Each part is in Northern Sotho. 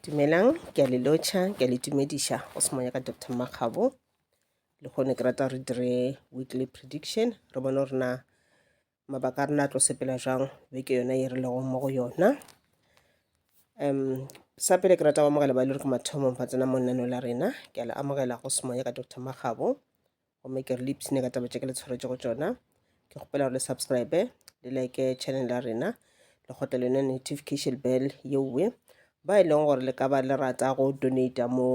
dumelang ke a le lotšha ke a le tumediša go se monya ka dr makgabo le kgone ke rata re dire weekly prediction re bone gore na mabaka a rena a tlo sepela jang beke yona e re lego mo go yona um sa pele ke rata go amogela ba e le gore ke mathomong ba tsena mo lenaneo la rena ke a le amogela go se monya ka dr makgabo gomme ke re le ipshine ka taba tše ke le tshwaretšego tšona ke kgopela gore le subscribe le like channel ya rena le kgotla le yone notification bell yeowe ba e leng gore le ka ba le rata go donata mo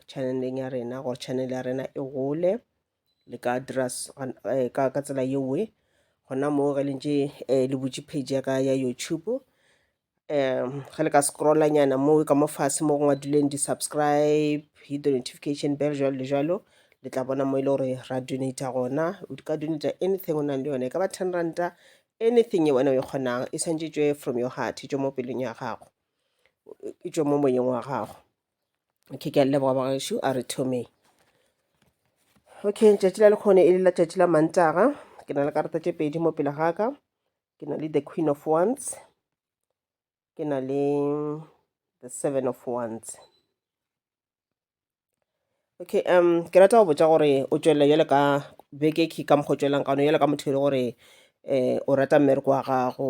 channeleng ya rena gore channel ya rena e gole le ka dira eh, ka tsela yeowe gona moo ge le ntše eh, le butše page ya ka ya youtube um ge le ka scrolla nyana mo ka mo fase mo go ngwadilweng di-subscribe hit the notification bell jalo le jalo le tla bona mo e le gore ra donata gona o di ka donata anything o nang le yone e ka ba ten ranta anything e wena o e kgonang e swantše e tšwe from your heart e tšwe mo pelong ya gago e tšwe mo moyeng wa gago okay ke a le leboga bagaešo a re thomeng okay tšatši la lekgone e le la tšatši la mantaga ke na le karata tše pedi mo pele ga ka ke na le the queen of wands ke na le the seven of wands okay um ke rata go botsa gore o tswelele jale ka beke ke ka mokgwa o tswelelang ka one jale ka motho e le gore um o rata mmereko wa gago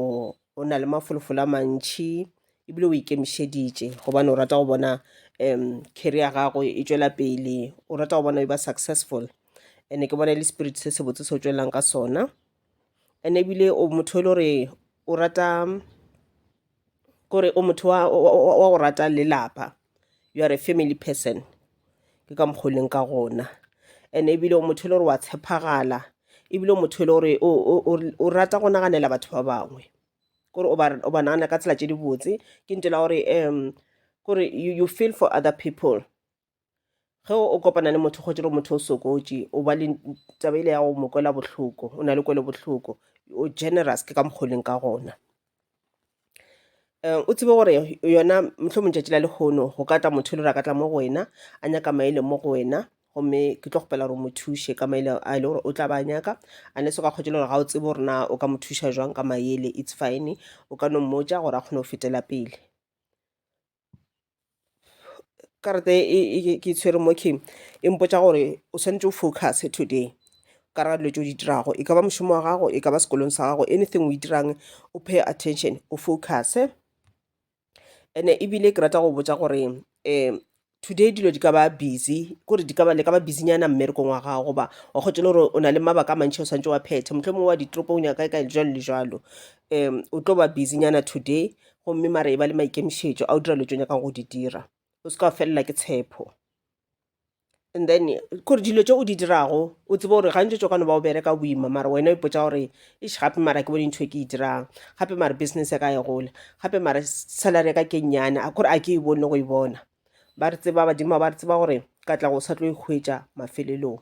o na le mafolofolo a mantšhi ebile o ikemišeditše gobane o rata go bona um carry ya gago e tswela pele o rata go bona e ba successful and-e ke bona e le spirit se sebotse se o tswelelang ka sona and ebile o motho e le gore o rata kore o motho wa go rata lelapa you are a family person ke ka mokgwa leng ka gona and ebile o motho e le gore wa tshepagala ebile o motho e le gore o rata go naganela batho ba bangwe kore o ba nagana ka tsela tse dibotse ke ntela gore um kore you feel for other people ge o kopana le motho kgotse gore motho o sokotše o ba le taba ile ya go mo kwela bohloko o na le kwele bohloko o generous ke ka mokgoleng ka gona um o tsebe gore yona motlho mong tšatši la lekgono go ka tla motho e le gore a ka tla mo go wena a nyaka maele mo go wena gomme ke tlo kgopela gore mo thuše ka maele a le gore o tla ba nyaka a ne se ka kgotse le gore ga o tsebe gore na o ka mo thuša jwang ka maele it's fine o ka no mmotša gore a kgone go fetela pele karata e ke tshwere mo king e mpotsa gore o swanetše o focus today ka ra dilo tse o di dirago e ka ba mošomo wa gago e ka ba sekolong sa gago anything o e dirang o pay attention o focus ene ebile ke rata go botsa gore um today dilo di ka ba busy kore di ka ba le ka ba busy nyana mmerekong wa gago goba wa kgotse le gore o na le mabaka a mantšhi o swantse wa phethe mohlomongwe wa ditoropong ya kae kae jalo le jalo um o tlo ba busy nyana today gomme mara e ba le maikemišetšo a o dira dilo tse o nyakang go di dira o se ka wa felela ke tshepo and then kore dilo tse o di dirago o tsebe gore gantši tso ka no ba o bereka o boima mara wena o ipotsa gore eš gape mara ke bone ntho e ke e dirang gape mara business ya ka e gola gape mara salary ya ka ke nnyane a kore a ke e bone go e bona ba re tseba badimo ba re tseba gore ka tla go sa tlo e hwetša mafelelong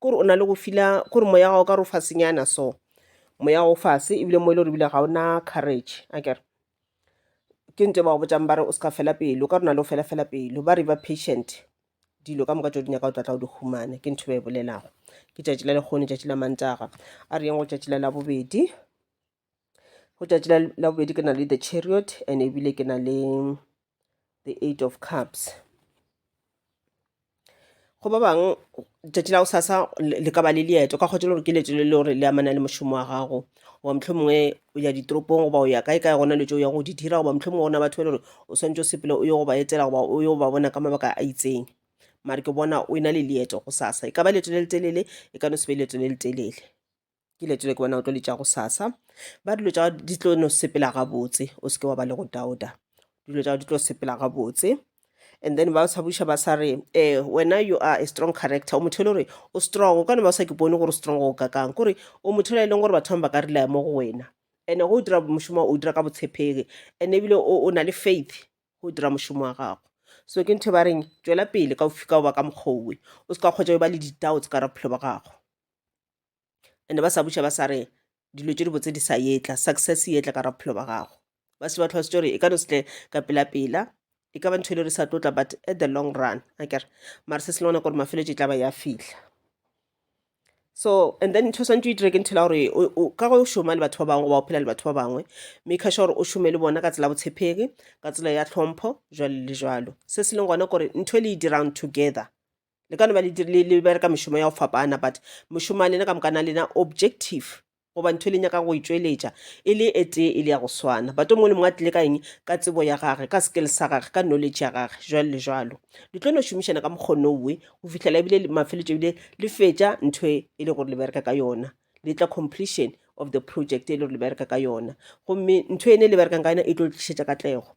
Kore o na le go fila kore moya gago ka re o fasenyana so moya o fase ebile mo e le gore ebile ga ona courage a kere ke nto e ba go botšang ba re o se ka fela pelo ka rona le o fela fela pelo ba re ba patient dilo ka moka tšeo di nyaka o tlatla o di humane ke ntho e ba e bolelago ke tšatši la lekgone tšatši la mantaga a re yeng go tšatši la labobedi go tšatši la la bobedi ke na le the chariot and ebile ke na le the eight of cups go ba bangwe tšatši la go sasa le le ka ba le leeto ka kgotsa le gore ke leeto le le gore le amana le mošomo wa gago goba motlho mongwe o ya ditoropong goba o ya kae kae gona le tso ya go di dira goba motlho mongwe gona batho ba le gore o swantse o sepele o yo go ba etela goba o yo ba bona ka mabaka a itseng mare ke bona o e na le leeto go sasa e ka ba leeto le le telele e ka no se be leeto le le telele ke letile ke bona o tlo letša go sasa ba dilo tša di tlo no sepela gabotse o seke wa ba le go dauta dilo tša di tlo sepela gabotse and then ba sa buša ba sa re eh wena you are a strong character o motho e le gore o strong o ka ne ba sa ke bone gore strong o ka kang kore o motho e leng gore batho ba ka relaya mo go wena ene go dira mošomo o dira ka botshepegi ene ebile o na le faith go dira mošomo wa gago so ke ntho e ba reng tswela pele ka o fika o ba ka mokgowe o se ka kgwetsa o ba le di-doubts ka ra bophelo ba gago ande ba sa buša ba sa re dilo tše dibotse di sa yetla success yetla ka raphelo ba gago ba se ba tlhoa setse gore e ka no setle ka pelapela e ka ba ntho e le re sa tlotla but at the long run a kere mare se se lengwana gore mafeletso e tla ba ya fihla so and then ntho swantse o itire ke ntho la gore ka go šoma le batho ba bangwe goba o phela le batho ba bangwe make sure gore o šome le bona ka tsela botshepegi ka tsela ya tlhompho jalo le jalo se se leng gona gore ntho e le e dirang together le ka no ba le bereka mešomo ya go fapana but mošomo wa lena ka moka na lena objective goba ntho e le nyaka go e tšweletša e le e tee e le ya go swana but o mongwe le mongwe a tlile ka eng ka tsebo ya gage ka skill sa gage ka knowledge ya gage jalo le jalo le tlo no šomišana ka mokgono owe go fihlela ebile mafeletšo ebile le fetša ntho e, e le gore le bereka ka yona le tla completion of the project e le gore le bereka ka yona gomme ntho ene le berekang ka yona e tlo tlišetša katlego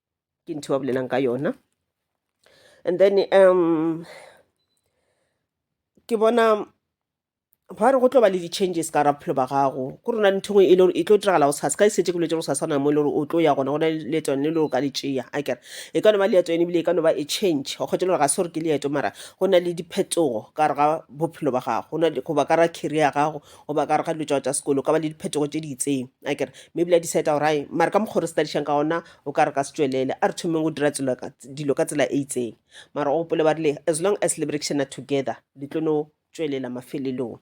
ke ntho ba bolelang ka yona and then um ke bona ba re go tlo ba le di-changes ka ra bophelo ba gago ko rona ntho ngwe e le gore e tlo diragala go sasa ka e setse ke boletse go sasa na mo e le gore o tlo ya gona go na le leeto le le o ka le tšea a kere e ka no ba leeto ene ebile e ka no ba e change go kgwetsa le gore ga se gore ke leeto mara go na le diphetogo ka re ga bophelo ba gago goba ka ra career ya gago goba ka gare ga dilo tšao tša sekolo ka ba le diphetogo tše di itseng a kere mme ebile a decide gore ai mare ka mokgwa re studišang ka ona o ka re ka se tšwelele a re thomeng go dira tselo ka- dilo ka tsela e itseng mara o gopole ba rile as long as le berekišana together le tlo no tšwelela mafelelong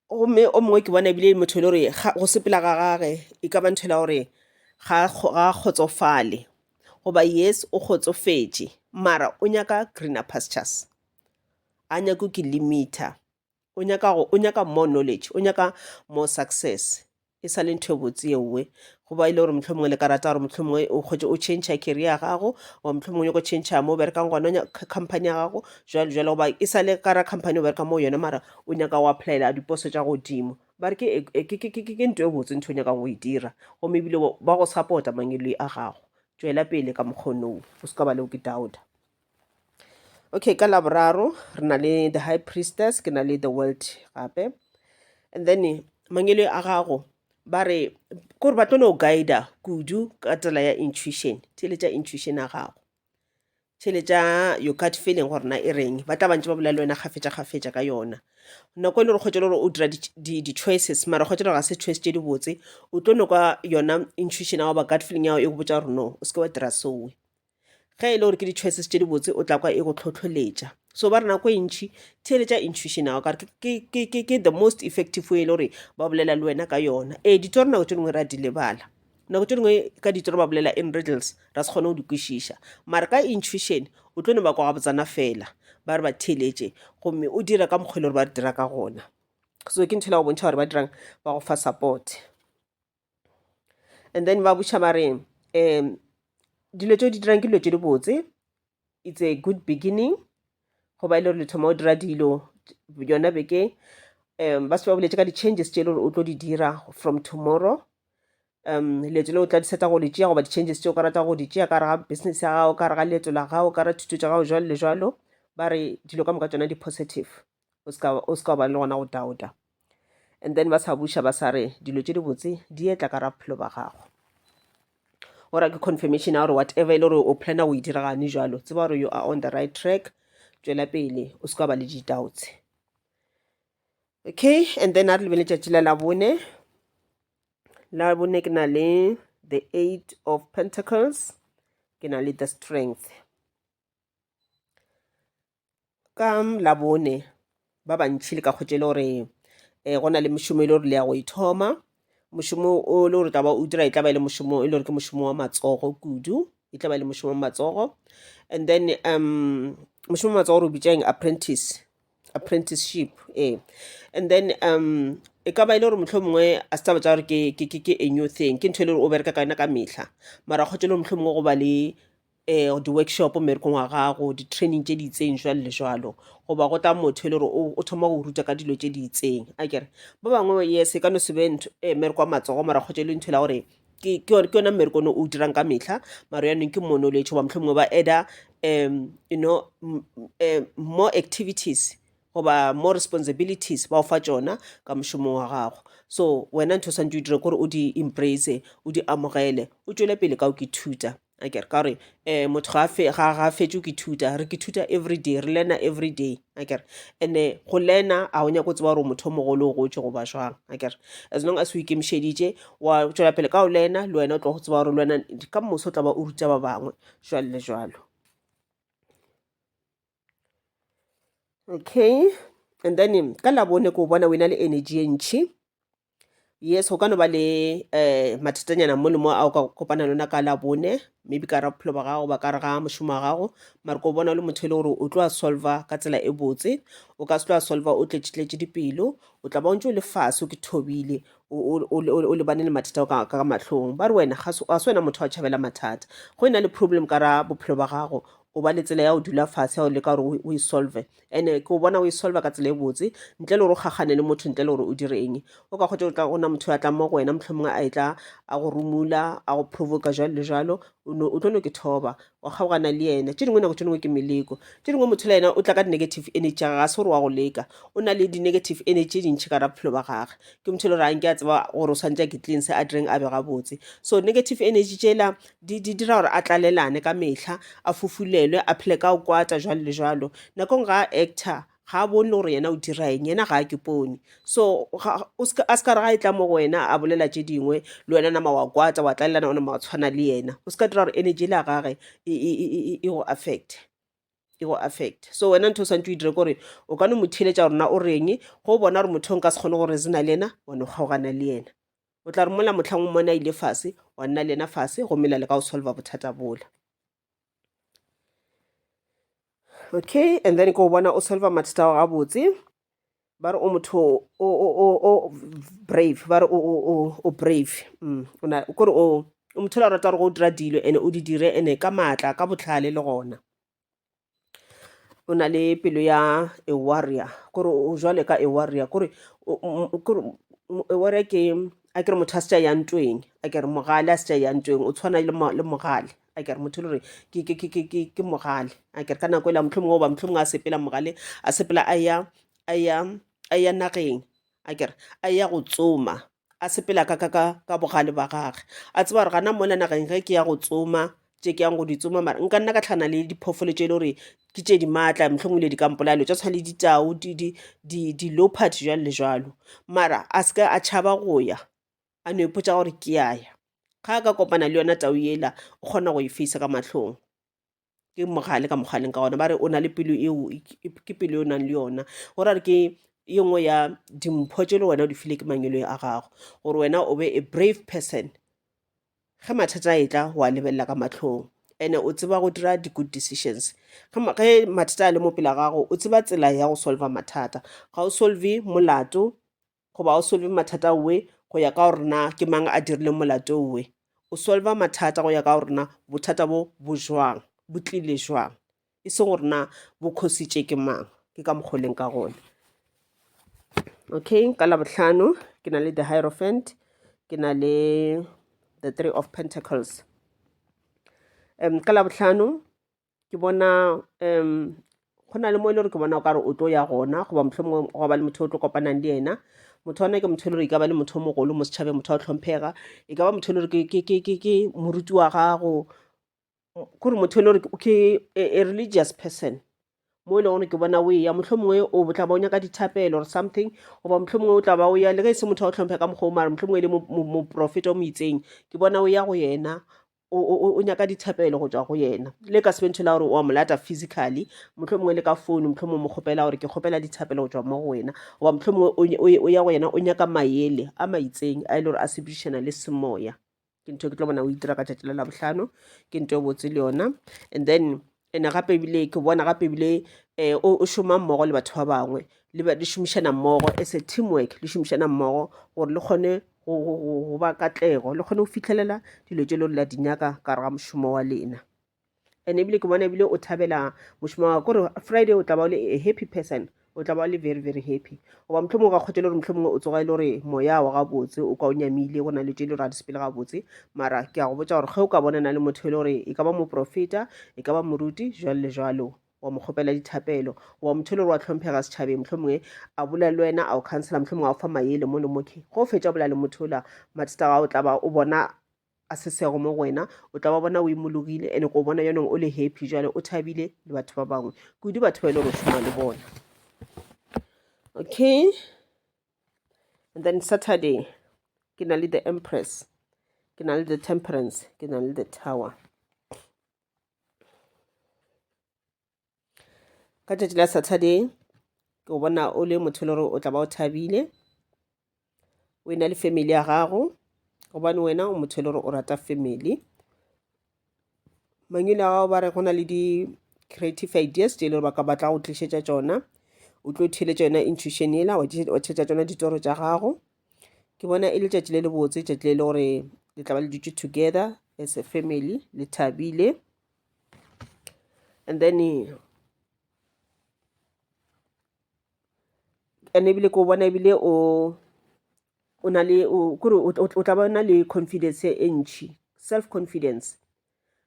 gomme o mongwe ke bona ebile e le motho e le gore ga- go sepela ga gage e ka ba ntho ela gore ga a kgo- ga a kgotsofale goba yes o kgotsofetše mara o nyaka greener pastures a nyako ke limiter o nyaka go o nyaka more knowledge o nyaka more success e sa le ntho e botse yeowe goba e le gore motlho mongwe le ka rata gore motlho mongwe o kgotse o change career ya gago wa motlho mongwe o nyaka go change mo o berekang gona company ya gago jalo jalo goba e sa le kara company o bereka mo yone mara o nyaka go applyela diposo tša godimo ba re ke ke ntho e botse ntho o nyakang go e dira gomme ebile ba go supporta mangweloi a gago tšwela pele ka mokgonong o se ka ba leo ke doubta okay ka laboraro re na le the high priestess ke na le the world gape and then mangele a gago ba re kore ba tlo no guida kudu ka tsela ya intuition theletša intuition ya gago theletša your gut feeling gore na e reng ba tla bantse ba bolela le wena kgafetša kgafetša ka yona nako e le gore kgwetsa le gore o dira di-choices mara kgwetsa le gore ga se choice tše di botse o tlo no kwa yona intuition ya goba gut feeling ya gago e go botsa gore no o seke wa dira soe ge e le gore ke di-choices tše dibotse o tla kwa e go tlhotlholetša so ba re nako e ntšhi theeletša intuition ao kare ke the most effective way e le gore ba bolela le wena ka yona ee ditoro nako tše dingwe re a di lebala nako tše dingwe ka ditoro ba bolela in riddles ra se kgone go di kwešiša mare ka intuition o tlo no ba kwa gabotsana fela ba re ba theeletše gomme o dira ka mokgwa e le gore ba re dira ka gona so ke ntho e la go bontšha gore ba dirang ba go fa support and then ba botšha ba re um dilo tse o di dirang ke dilo tse di botse it's a good beginning go ba e le gore le thoma o dira dilo yona beke um ba se ba boletse ka di-changes tse e le gore o tlo di dira from tomorrow um leeto le o tla diseta go le tšea goba di-changes tse o ka rata go di tšea ka rega business ya gago ka rega leeto la gago ka re thuto tša gago jalo le jalo ba re dilo ka moka tsona di-positive o se ka o se ka ba le gona go dauta and then ba sa buša ba sa re dilo tše dibotse di etla ka ra bophelo ba gago ora ke confirmation ya gore whatever e le gore o plana go e diragane jalo tseba gore you are on the right track tšwela pele o se ka ba le ditautse okay and then a re lebele tšatši la labone labone ke na le the eight of pentacles ke na le the strength ka labone ba bantšhi le ka kgwetše le gore um go na le mošomo e le gore le ya go ithoma mošomo o le gore tla ba o dira e tla ba e le mošomo e le gore ke mošomo wa matsogo kudu e tla ba e le mošomo wa matsogo and then um mošomo wa matsogo re o bitšang apprentice apprenticeship ee and then um e ka ba e le gore motlho mongwe a se taba tsa gore ke a new thing ke ntho e le gore o bereka ka yona ka mehla mara kgwetše le gore motlho mongwe go ba le um di-workshop mmerekong wa gago di-training tše di itseng jwale le jwalo goba go tla motho e le gore o thoma go ruta ka dilo tše di itseng a kere ba bangwe yes e ka no sebe um eh, mmereko wa matsogo mara kgotsa e le ntho e la gore ke yona mmereko one o dirang ka metlha maro yanong ke mono letsho ba motlho mongwe ba eda um you know eh, more activities goba more responsibilities ba o fa tsona ka mošomong wa gago so wena ntho o swantse o dire kore o di embrace o di amogele o tšwele pele ka o ke thuta a kere ka gore um motho ga a fe- ga ga a fetšo ke thuta re ke thuta everyday re learna everyday a kere and-e go learna ga o nyaka go tseba gore o motho o mogolo o gotše goba jwang a kere as long as o ikemišeditše wa tšwela pele ka go learna le wena o tlo go tseba gore le wena ka moso o tla ba o ruta ba bangwe jwalo le jwalo okay and then ka labone ko bona wena le energy ye ntšhi yes go ka no ba le um mathatanyana mo le mo a o ka kopana le ona ka labone maybe ka ra bophelo ba gago ba ka re ga mošomo wa gago mare ko bona o le motho e le gore o tlo a solva ka tsela e botse o ka se tlo a solva o tletšetletše dipelo o tla ba o ntse o le fase o ke thobile o lebane le mathata ka mahlong ba re wena ga se wena motho wa tšhabela mathata go e na le problem ka ra bophelo ba gago o ba le tsela ya go dula fatshe ya go leka gore o e solve ene ke o bona o e solve ka tsela e botse ntle le gore o kgakgane le motho ntle le gore o dire eng o ka kgotse gore ka gona motho a tla mo go wena motlho mongwe a e tla a go rumula a go provoka jalo le jalo o tlo no ke thoba wa kgaogana le ena tse dingwe nako tse dingwe ke meleko tse dingwe motho le ena o tla ka di-negative energy ga ga se gore wa go leka o na le di-negative energy tse dintšhi ka ra bophelo ba gage ke motho e le gore a nke a tseba gore o tshwanetse a ke tleng se a direng a be gabotse so negative energy tsela Di, di dira gore a tlalelane ka mehla, a fufulelwe, a phele ka go kwata, jwalo le jwalo. Nakong ga a actor, ga a bone le gore yena o dira eng, yena ga a ke pone. So, ga, o ska, a ska re ga e tla mo go wena a bolela tše dingwe, le wena nama wa kwata, wa tlalelana, wa nama wa tshwana le yena. O ska dira gore energy le ya gage e, e, e, e, e, e go affecte e go affecte. So wena ntho o swantse o e dire ke gore o ka no mo theeletša gore na o reng, ge o bona gore motho o nka se kgone go reasona le yena, wa no kgaogana le yena. O tla re mola mohlang o mmone a ile fase, wa nna le yena fase, gomme la leka go solva bothata bola. Okay, and then ke o bona o solva mathata ao gabotse. Ba re o motho o- o- o- o- o brave, ba re o- o- o- o brave. Mm, o na- kore o o motho o la rata gore go dira dilo ene o di dire ene ka maatla, ka botlhale le gona. o na le pelo ya a warrior kore o jwale ka a warrior kore a warrior ke a kere motho a se tša ya ntweng a kere mogale a se tša ya ntweng o tshwana le mogale a kere motho le gore ke mogale a kere ka nako e la mohlomong goba mohlomong a sepela mogale a sepela a ya a ya a ya nageng a kere a ya go tsoma a sepela ka ka ka ka bogale ba gage a tseba gore gana mona nageng ge ke ya go tsoma tše ke yang go di tsoma mara nka nna ka tlhana le diphoofolo tše e le gore ke tše di maatla mohlomong le di ka mpolaya dilo tša tshwana le ditau di- di- di- di-leopard jalo le jalo mara a se ka a tšhaba go ya a no ipotsa gore ke ya ya ga a ka kopana le yona tau yela o kgona go e face ka mahlong ke mogale ka mokgwa leng ka gona ba re o na le pelo eo ke pelo e o nang le yona go ra re ke ye nngwe ya dimpho tše le wena o di file ke mangwelong a gago gore wena o be a brave person ge mathata a etla wa lebelela ka matlhong ene o tseba go dira di-good decisions ge mathata a le mo pela gago o tseba tsela ya go solva mathata ga o solve molato goba o solve mathata owe go ya ka gore na ke mang a dirile molato owe o solva mathata go ya ka gore na bothata bo bo jwang bo tlile jwang e seng gore na bo khositše ke mang ke ka mokgoleng ka gone okay ka labohlano ke na le the hierophant ke na le the three of pentacles um ka labohlano ke bona um go na le mo e le gore ke bona o ka re o tlo ya gona goba motlho mongwe go ba le motho o tlo kopanang le ena motho ona ke motho e le gore e ka ba le motho o mogolo mo setšhabeng motho wa go tlhomphega e ka ba motho e le gore ke- ke- ke- ke- ke moruti wa gago kore motho e le gore ke- ke a a religious person mo e leng gore ke bona o eya motlho mongwe o tla ba o nyaka dithapelo or something goba motlho mongwe o tla ba o ya le ge e se motho wa go tlhomphe ka mokgwa o mare motlho mongwe e le mo- mo- moprofeta o mo itseng ke bona o ya go yena o, o, o nyaka dithapelo go tswa go yena le ka sebentho la gore wa mo lata physically motlho mongwe le ka founu motlho mongwe mo kgopela gore ke kgopela dithapelo go tswa mo go wena goba motlho mongwe o, o, o ya go yena o nyaka maele a maitseng a e le gore a sebedišana le semoya ke ntho ke tlo bona o itira ka tšatši la labohlano ke ntho e botse le yona and then ene gape ebile ke bona gape ebile um o šoma mmogo le batho ba bangwe le šomišana mmogo as a teamwork le šomišana mmogo gore le kgone go ba katlego le kgone go fitlhelela dilo tse le gore la di nyaka ka ga mošomo wa lena and ebile ke bona ebile o thabela mošomo wa gore friday o tla ba o le a happy person o tla ba le very very happy goba motlho mongwe ga kgotse le gore motlho mongwe o tsoga e le gore moya wa gabotse o kwa o nyamile go na le tše le gore a di sepele gabotse mara ke ya go botsa gore ge o ka bona na le motho e le gore e ka ba moprofeta e ka ba moruti jalo le jalo wa mo kgopela dithapelo wa motho e le gore wa tlhomphega setšhabeng motlho mongwe a bolela le wena a o counselor motlho mongwe a o fa mayele mo le moke go fetsa bolela le motho ola mathata ga o tla ba o bona a se sego mo go wena o tla ba bona o imologile ene ko bona yonong o le happy jale o thabile le batho ba bangwe kudu batho ba e le go šoma le bona okay and then saturday ke na le the empress ke na le the temperance ke na le the tower ka tšatši la saturday ke go bona o le motho le gore o tla ba o thabile o e na le family ya gago gobane wena o motho le gore o rata family mangwele a gago ba re go na le di-creative ideas tse e le gore ba ka batla go tlišetša tsona o tlo theletša yona intuition ela wa theletša tsona ditoro tša gago ke bona e le tšatši le le botse tšatši le le gore le tla ba le dutše together as a family le thabile and then and ebile ko bona ebile o o na le kore o tla ba na le confidence e ntšhi self confidence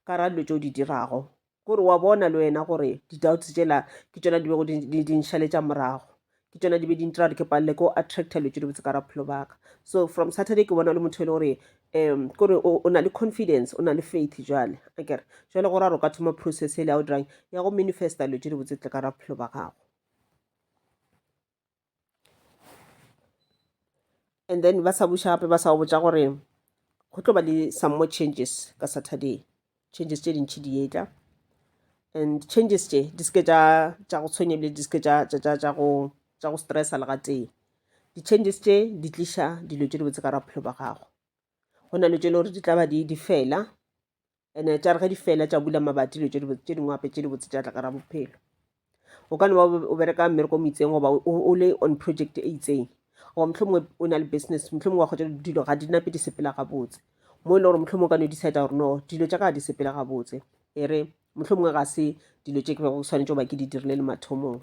ka ra dilo tse o di dirago kore wa bona le wena gore di-doubts tsela ke tsona di bego di nšhaletša morago ke tšona di be di ntira gore ke palele ko attracta dilo tše di botse ka raphelo baka so from saturday ke bona le motho e le gore um kore o na le confidence o na le faith jale a kere jale gore a re o ka thoma process e le ya o dirang ya go manifesta dilo tše di botse tle ka raphelo ba gago and then ba sa buša gape ba sa go botša gore go tlo ba le some more changes ka saturday changes tše dintšhi di etla and changes tše di seke tša go tshwenye ebile di seke tša go stressa le gatee di-changes tše di tliša dilo tše di botse ka ra bophelo ba gago go na le tše le gore di tla ba di fela ene tša re ge di fela tša bula mabati dilo tše dingwe gape tše di botse tša tla gara bophelo o ka no ba o bereka mmereko mo itseng goba o le on project e itseng goba motlho mongwe o na le business motlho mongwe wa kgotsa dilo ga di nape di sepela gabotse mo e le gore motlho mongwe ka no decide gore no dilo tša ka ga di sepela gabotse e re motlho mongwe ga se dilo tše ke bego ke tshwanetse goba ke di dirile le mathomong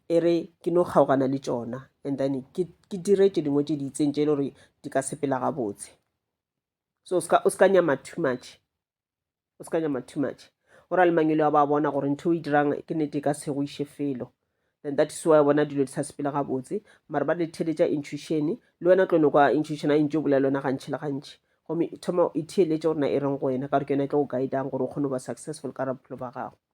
e re ke no kgaogana le tsona and then ke dire tše dingwe tše di itseng tše e le gore di ka sepela gabotse so o ska, o ska nyama too much o ska nyama too much go ra le mangelo a ba bona gore ntho o e dirang ke nete e ka se go iše felo then that is why bona dilo di sa sepele gabotse mare ba le theletša intuition le wena tlo no kwa intuition a intse o bolela yona gantši le gantši gomme thoma e theeletše gore na e reng go wena ka gore ke yona e tlo go guidang gore o kgone go ba successful ka ra bophelo ba gago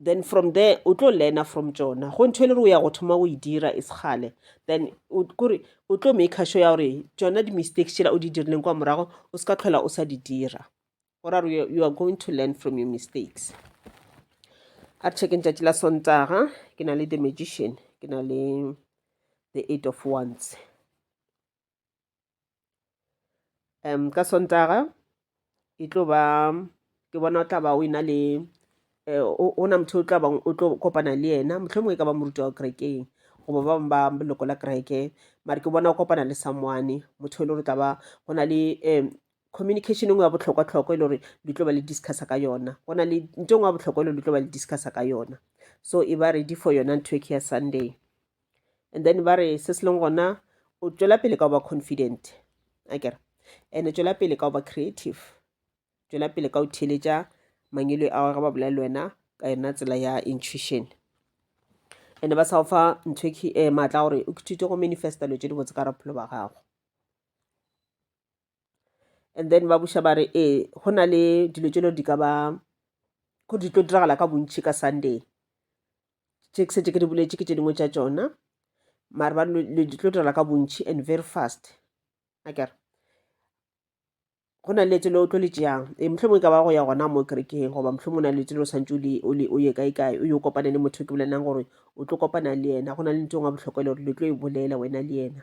then from there o tlo learner from tšona go ntho e le gore o ya go thoma o e dira e sekgale then kore o tlo maker sure ya gore tšona di-mistakes tšela o di dirileng kwa morago o se ka tlhola o sa di dira gore are you are going to learn from your mistakes a re checkeng tšatši la sontaga ke na le the magician ke na le the eight of ones um ka sontaga e tlo ba ke bona o tla ba o ena le eh, o na motho o tla bang o tlo kopana le yena motlho mongwe e ka ba moruti wa kerekeng goba ba bangwe ba leloko la kereke mare ke bona o kopana le someone motho e le gore tla ba go na le um communication engwe ya botlhokwa-tlhokwa e le gore le tlo ba le discussa ka yona go na le nto engwe ya botlhokwa e le gore le tlo ba le discussa ka yona so e ba ready for yona ntho e ke ya sunday and then ba re se se leng gona o tšwela pele ka go ba confident a kere and tšwela pele ka go ba creative tšwela pele ka go theeletša mangelo a ge ba bolela le wena ka yona tsela ya intuition and ba sa go fa ntho um maatla gore o ithute go manifesta dilo tše di botse ka raphelo ba gago and then ba buša ba re ee go na le dilo tse di ka ba go di tlo diragala ka bontšhi ka sunday tše ke setse ke di boletše ke tše dingwe tša tšona mare ba di tlo diragala ka bontšhi and very fast akere go na le tselo o tlo le tšeang e motlho mongwe ka ba go ya gona mo kerekeng goba motlho mongwe na le tselo o santse o ye kae kae o yo kopane le motho ke bolelang gore o tlo kopana le yena go na le ntho e ngwe botlhokwa le gore le tlo e bolela wena le yena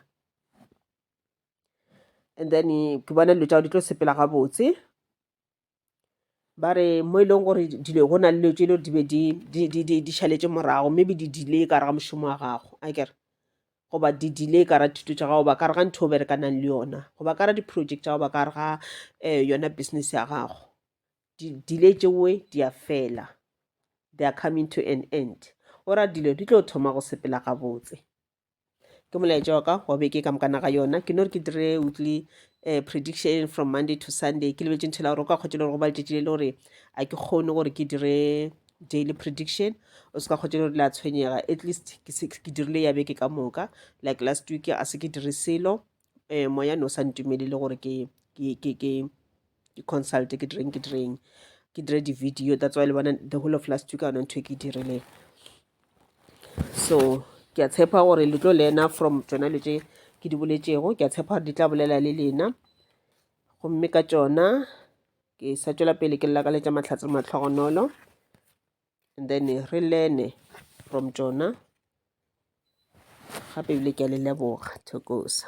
and then ke bona dilo tša gago di tlo sepela gabotse ba re mo e leng gore dilo go na le dilo tše e le gore di be di- di- di- di- di šaletse morago maybe di delay ka re ga mošomo wa gago a kere goba di delay ka ra thuto tša gago ba ka re ga ntho o berekanang le yona goba ka ra di-project tša gago ba ka re ga um yona business ya gago Di- delay tšewe di a fela they are coming to an end ora dilo di tlo thoma go sepela gabotse ke molaetša wa ka wa beke ka mokana ga yona ke no re ke dire weekly um prediction from monday to sunday ke lebetse ntho la gore o ka kgotse le gore go ba letšatši le le gore a ke kgone gore ke dire daily prediction o se ka kgotse le gore le a tshwenyega at least ke dirile ya beke ka moka like last week a se ke dire selo um moya ne o sa ntumelele gore ke ke consult ke direng ke direng ke dire di-video that's why le bona the whole of last week a ona ntho e ke e dirileng so ke a tshepa gore le tlo lena from tsona le tse ke di boletšego ke a tshepa gore di tla bolela le lena gomme ka tsona ke sa tšwela pele ke lakaletša mahlatse matlhogonolo and then re lene from tsona gape ebile ke a le leboga thokosa